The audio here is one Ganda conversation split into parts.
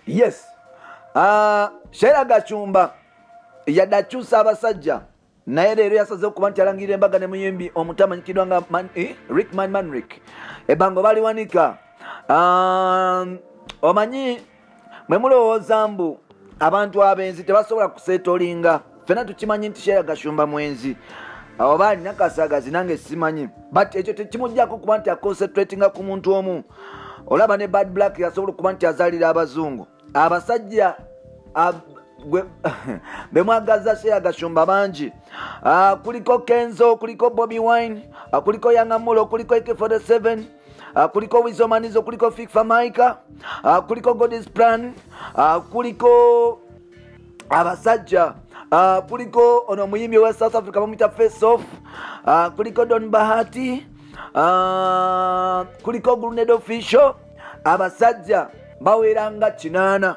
yes uh, ah, shera gacumba yadde akyusa abasajja naye leero yasazeho kuba nti alangirira embaga ne muyimbi omuto amanyikiddwa nga man, eh, rick man manrick ebango baliwanika um, omanyi mwe mulowooza mbu abantu abenzi tebasobola kusetolinga fena tukimanyi nti sheera gashumba mwenzi oba alina kasagazi nange simanyi but ekyo tekimujjako kuba nti aconcentratinga ku muntu omu olaba ne bad black yasobola okuba nti azalira abazungu abasajja bemwagaza sheera gashumba bangi ah, kuliko kenzo kuliko bobi wine ah, kuliko yangamulo kuliko ek 47 Ah, kuliko wizomanizo kuliko fikfa maika ah, kuliko godis plan ah, kuliko abasajja kuliko ono omuyimbi owa south africa bamuyita face off kuliko don bahati kuliko gruned official abasajja baweranga kinaana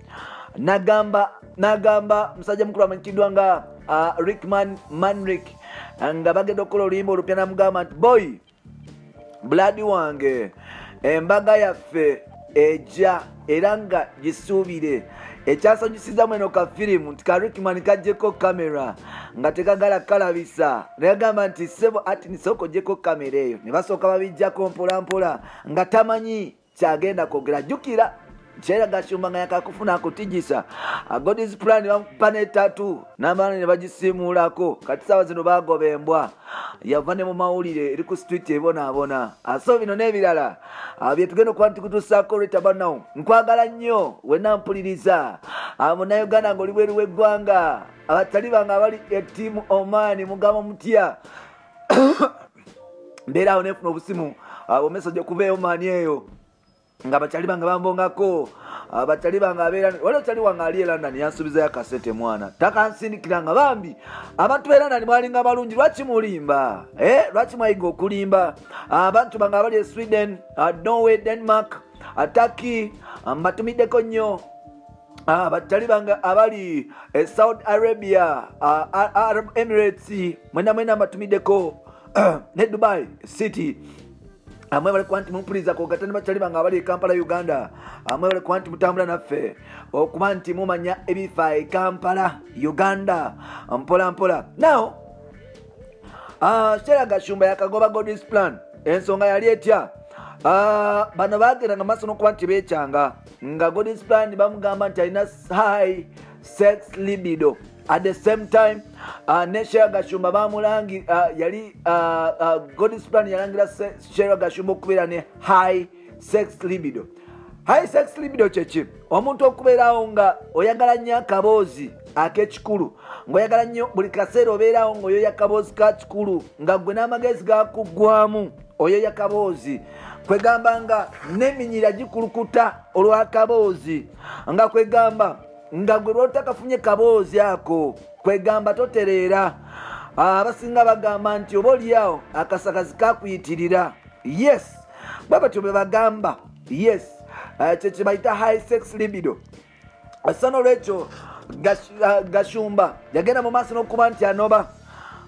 nagamba nagamba musajja mukulu amanyikiddwa nga uh, rickman manrik nga bagenda okukola oluyimba olupya namugamba nti boy buladi wange embaga yaffe eja era nga gisuubire ekyasanyusizamu eno ka firimu nti ka rickman kajjeko kamera nga tekagala kalabisa nayagamba nti sebo ati nisooka ojjeko kamera eyo ne basooka babijjako mpolampola nga tamanyi kyagenda kwogera jjukira kyera gashumba nga yakakufuna akutijisa agod is plan bamukupa netatu n'abaana ne bagisiimuulako kati saawa zino baagoba embwa yava ne mu mawulire eri ku street ebonaabona aso bino n'ebirala ah, bye tugenda okuba ntikutusaako olweta banawo nkwagala nnyo wena mpuliriza ah, munauganda nga oli bweru w'eggwanga abatali bange abali etiimu omaani mugamba mutya mbeera awo nefuna obusimu ah, omesaje okuva eyo maani eyo nga bakyali bange bambongako ah, bakyali bange abeera wali okyali wange ali e london yansuubizayo akasete mwana takansindikira nga bambi abantu be london mwalinga balungi lwaki mulimba eh, lwaki mwayiga okulimba ah, abantu bange abali e sweden norway denmark ataki mbatumiddeko nnyo Ah, batali banga abali e saudi arabia ah, arab emirates mwena mwena mbatumideko ne dubai city amwe bali kwanti mumpuliza kogatani batali banga abali ekampala e uganda amwe bali kwanti mutambula naffe okuba nti mumanya ebifa ekampala e uganda mpola mpola now ah, shera gashumba yakagoba godis plan ensonga yali etya bano bagenda nga maso nokuba nti bekyanga nga godis plan bamugamba nti alina high sex libido at the same time uh, ne shera gashumba bamulangi uh, yali uh, uh, godis plan yalangira shera gashumba okubeera ne high sex libido high sex libido kyeki omuntu okubeerawo nga oyagala nnyo akaboozi akekikulu ngaoyagala nnyo buli kaseera obeerawo ngaoyoyo akaboozi ka kikulu nga gwe n'amagezi gakuggwamu oyo yakaboozi kwegamba nga neminyira gikulukuta olwakaboozi nga kwegamba nga gwe lwotakafunye kaboozi ako kwegamba totereera ah, abasinga bagamba nti oba olyawo akasakazi kakuyitirira yes bwe batyo bwe bagamba yes ah, kyekyebayita high sex libido assa nolwekyo gashumba yagenda mu maaso n'okuba nti anoba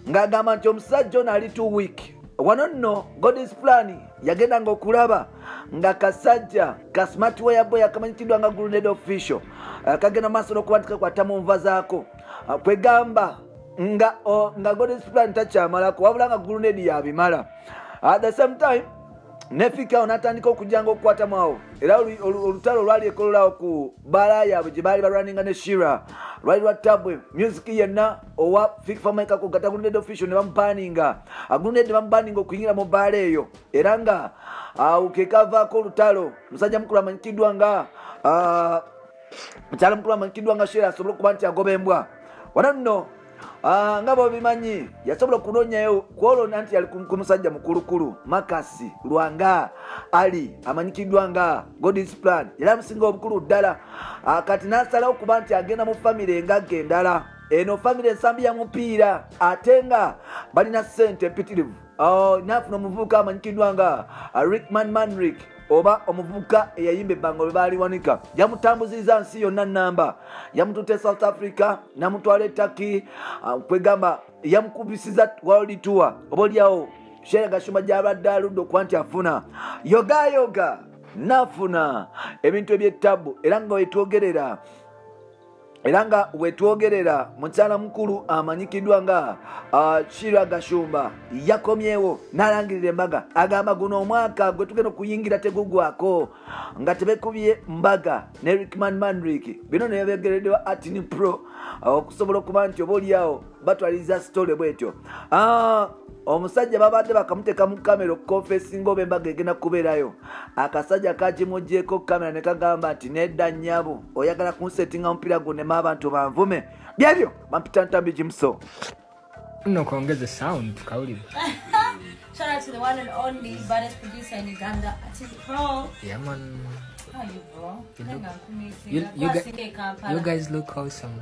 ng'agamba nti omusajja ono ali two week wano nno godis plan yagenda nga okulaba nga kasajja ka smart waya boy akamanyikiddwa nga gruned official eh, kagenda mu maaso n'okuba nti kakwata mu nva zaako eh, kwegamba nga nga godis plan takyamalako wabula nga gruned yabimala at the same time nefikawo natandika okujanga okukwatamu awo era olutalo olwali ekololawo ku baala yaabwe gye baali balwaninga ne shira lwali lwa tabwe music yenna owa fikfamaikako gataguluned official ne bamupaninga aguluned ne bamupaninga okuyingira mu baala eyo era nga awo kekavaako olutalo musajja mukulu amanyikiddwa nga mukyala mukulu amanyikiddwa nga shira asobole okuba nti agoba embwa wananno Ah, nga bobimanyi yasobola okunonyayo kwolona nti yali ku musajja mukulukulu makasi lwanga ali amanyikiddwa nga godis plan yali amusinga obukulu ddala ah, kati nasalawo kuba nti agenda mu famiry engagga endala eno famiry ensambi ya mupiira ate nga balina sente epitirivu Oh, nafuna omuvubuka amanyikiddwa nga uh, rickman manrik oba omuvubuka eyayimba ebbanga lwe baaliwanika yamutambuziriza nsi yonna namba yamututa e south africa namutwala etaki uh, kwegamba yamukubisiza world tour oba olyawo sheera gashuma gyabadde aludde okuba nti afuna yogayoga nafuna ebintu ebyettabu era nga wetwogerera era nga wetwogerera mukyala mukulu amanyikiddwa nga kira gashumba yakomyewo nalangirira embaga agamba guno omwaka gwe tugenda okuyingira tegugwako nga tebekubye mbaga ne rickman manrik bino nebegeredewa atini pro okusobola okuba nti oba olyawo batwaliza sitole bwetyo ah, omusajja babadde bakamuteeka mu kamera okukonfesi ngaoba embaga egenda kubeerayo akasajja kagimugyeko kamera ne kagamba nti nedda nyabo oyagala kunsetinga omupiira gunema abantu banvume byebyo bampita ntambi gimuso no kongeze sound tukawulire Shout out to the one and only baddest producer in Uganda, Ati Pro. Yeah, man. How are you, bro? You, look, you, you, you, guys look awesome.